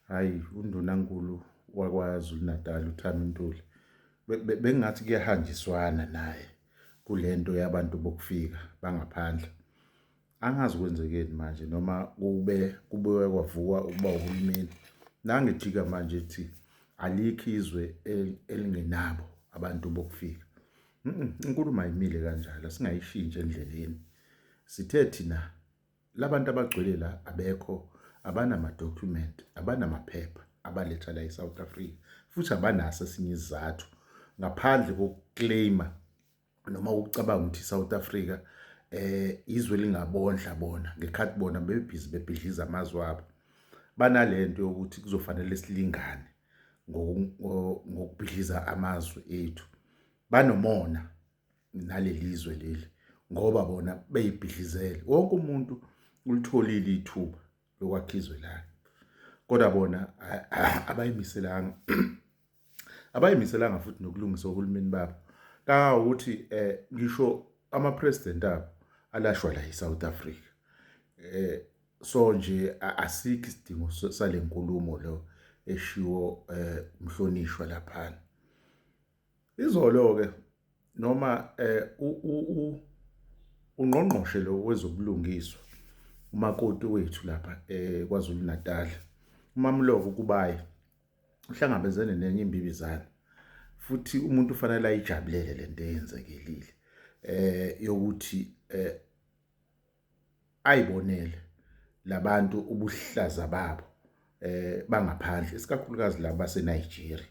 hhayi undunankulu wakwazulu natal uthanda untuli bengathi kuyahanjiswana naye kule nto yabantu bokufika bangaphandle angazi kwenzekeni manje noma kube kubuye kwavukwa ukuba uhulumeni nangijika manje ethi alikho izwe elingenabo abantu bokufika inkulumo ayimile kanjalo singayishintshe endleleni sithe thina Labantu abagcwele la abekho abanama document abanamaphepha abaletha la eSouth Africa futhi abanaso esinye isizathu ngaphandle kokuclaima noma ukucabanga ukuthi iSouth Africa eh izwe lingabondla bona ngekhathi bona bebhizi bebhidliza amazwi abo banalento yokuthi kuzofanele silingane ngokubhidliza amazwi ethu banomona nalelizwe leli ngoba bona beyibhidlizele wonke umuntu ulitholile ithuba lokwakha izwe lakhe kodwa bona abayimiselanga abayimiselanga futhi nokulungisa uhulumeni babo kawukuthi eh ngisho ama president abo alashwa la eSouth Africa eh so nje asikho isidingo salenkulumo lo eshiwo eh umhlonishwa lapha Izolo-ke noma um ungqongqoshe lo wezobulungiswa umakoti wethu lapha um KwaZulu Natal uMamloko uKubayi uhlangabezene nenye imbibizane futhi umuntu ufanele ayijabulele le nto eyenzekelile um yokuthi um ayibonele labantu ubuhlaza babo eh bangaphandle isikakhulukazi laba baseNigeria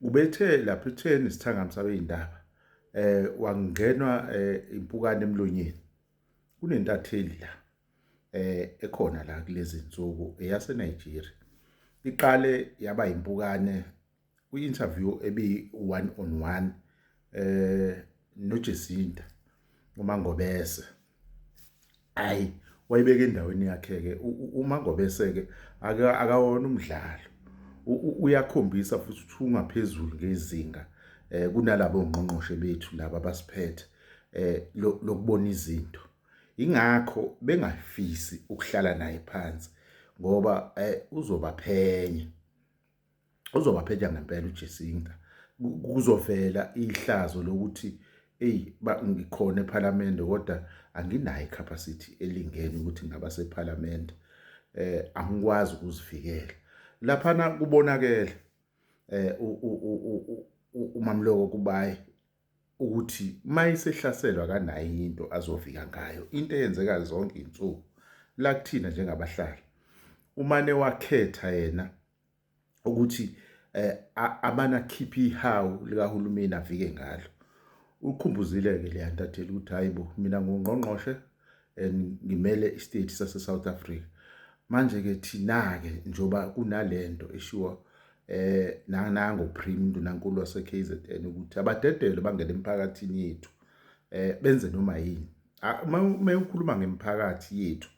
ubethe lapha etheni isithangami sabeyindaba eh wangenwa eh, impukane emlonyeni kunentatheli la eh ekhona la kulezi insuku eyaseNigeria iqale yaba impukane kwi-interview ebi-one on one eh noJesinta uMangobese hayi wayibeka endaweni yakhe-ke uMangobese-ke akawona umdlalo uyakhombisa futhi ukuthi ungaphezulu ngezinga eh kunalabo ngqongqoshe bethu laba basiphethe eh lokubona izinto ingakho bengafisi ukuhlala naye phansi ngoba eh uzobaphenya uzobaphetha ngempela uJesinta kuzovela ihlazo lokuthi eyi ngikhona ephalamende kodwa anginayo icapacity elingene ukuthi ngaba sephalamende eh angikwazi ukuzivikela laphana kubonakele eh umamloko kubaye ukuthi uma esehlaselwa kanayo enye into azovika ngayo into eyenzeka zonke izinsuku la kuthina njengabahlali umane wakhetha yena ukuthi eh abana khiphi ihawu likahulumeni avike ngalo ukhumbuzile ke leyantatheli ukuthi hayibo mina ngungqongqoshe and ngimele istate sase South Africa manje ke thina ke njoba kunalento eshiwa eh nanango prim ndunankulu wase KZN ukuthi abadedele bangena emphakathini yethu eh benze noma yini uma ukhuluma ngemphakathi yethu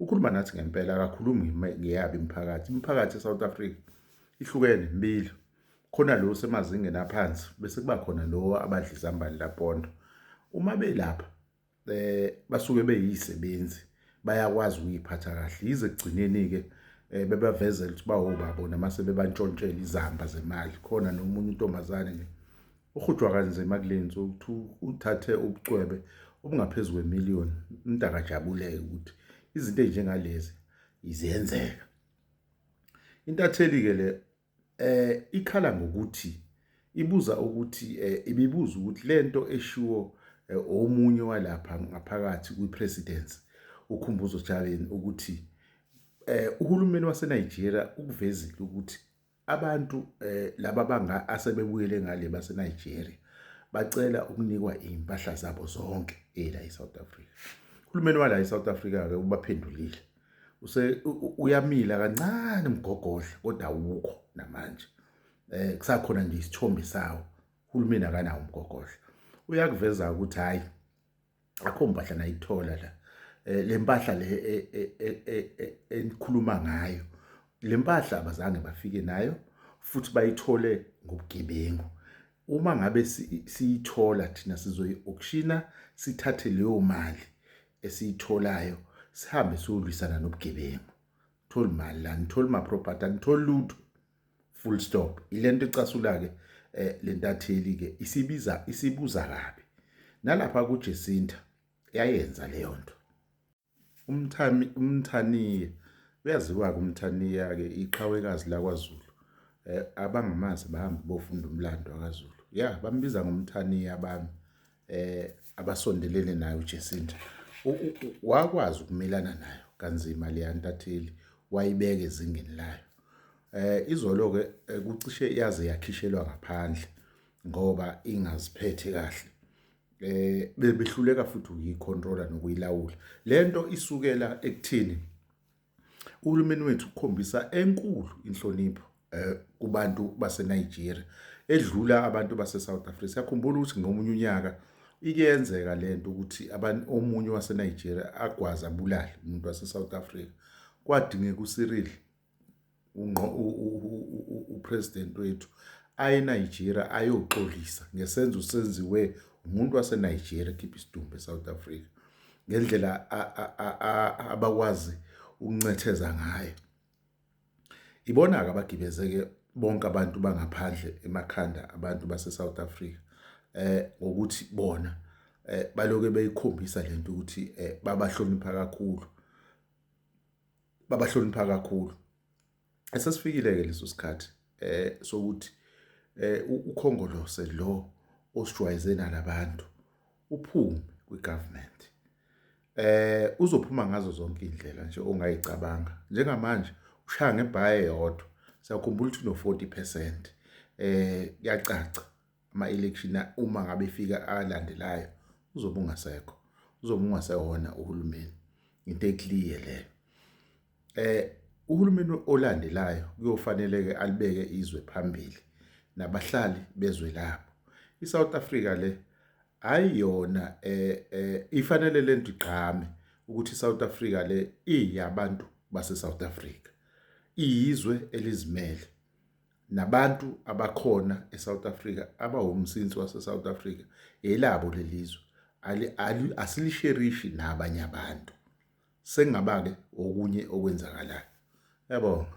ukhuluma nathi ngempela akakhulumi ngeyabi imphakathi imphakathi eSouth Africa ihlukene mbili khona lo semazingeni aphansi bese kuba khona lo abadla izambane lapondo uma belapha eh basuke beyisebenzi bayakwazi ukuyiphatha kahle yize kugcineni ke eh, bebavezela ukuthi bawobabo namase bebantshontshela izamba zemali khona nomunye intombazane nje uhujwa kanzima kulenzi ukuthi uthathe ubucwebe obungaphezulu kwemillion umntaka jabuleke ukuthi izinto ezinjengalezi izenzeka intatheli ke le eh ikhala ngokuthi ibuza ukuthi eh, ibibuza ukuthi lento eshiwo eh, omunye walapha ngaphakathi kwipresidency ukhumbuzo Javen ukuthi eh uhulumeni waseNigeria ukuvezile ukuthi abantu eh laba banga asebebuyele ngale baseNigeria bacela ukunikwa impahla zabo zonke ela eSouth Africa uhulumeni wala eSouth Africa ke ubaphendulile use uyamila kancane umgogodla kodwa awukho namanje eh kusakhona nje isithombe sawo uhulumeni akanawo umgogodla uyakuveza ukuthi hayi akho mpahla nayithola la eh, le mpahla le e, e, e, enikhuluma ngayo le mpahla abazange bafike nayo futhi bayithole ngobugebengu Uma ngabe siyithola thina sizoyi-okshina sithathe leyo mali esiyitholayo sihambe siyolwisana nobugebengu. Tholi mali la, ngitholi ma-property, angitholi lutho. Full stop. Ile nto ecasula-ke eh, le ntatheli-ke isibiza isibuza kabi. Nalapha kuJesinta yayenza leyo nto. umthami umthaniya uyaziwa-ke umthaniya-ke iqhawekazi lakwaZulu eh, abangamazi bahambe bofunda umlando wakaZulu ya bambiza ngomthaniya abantu eh abasondelene nayo uJesinta wakwazi ukumelana nayo kanzima leya ntatheli wayibeka ezingeni layo eh izolo-ke eh, kucishe yaze yakhishelwa ngaphandle ngoba ingaziphethe kahle eh bebehluleka futhi ukuyicontrola nokuyilawula lento isukela ekuthini uhulumeni wethu ukhombisa enkulu inhlonipho eh kubantu baseNigeria edlula abantu baseSouth Africa yakhumbula ukuthi ngomunye unyaka ikuyenzeka lento ukuthi abantu omunye waseNigeria agwaza bulala umuntu waseSouth Africa kwadingeka uCyril upresident wethu aye Nigeria ayoxolisa ngesenzo senziwe umuntu waseNigeria khipha isidumbu eSouth Africa ngendlela abakwazi ukuncetheza ngayo ibona ke abagibezeke bonke abantu bangaphandle emakhanda abantu baseSouth Africa eh ngokuthi bona eh baloke beyikhombisa lento ukuthi eh babahlonipha kakhulu babahlonipha kakhulu esesifikile ke leso sikhathi eh sokuthi eh ukhongolose lo osijwayeze nalabantu uphume kwigovernment eh uzophuma ngazo zonke indlela nje ongayicabanga njengamanje ushaya ngebhaye yodwa siyakhumbula ukuthi no 40% eh kuyacaca ama-election uma ngabe efika alandelayo uzobe ungasekho uzobe ungasewona uhulumeni into eclear leyo eh uhulumeni olandelayo kuyofanele ke alibeke izwe phambili nabahlali bezwe labo iSouth Africa le hayi yona eh, eh ifanele lento igqame ukuthi iSouth Africa le iyabantu base South Africa iyizwe elizimele nabantu abakhona eSouth Africa abawumsinsi waseSouth Africa elabo lelizwe asilisherishi nabanye abantu sengaba-ke okunye okwenzakalayo yabonga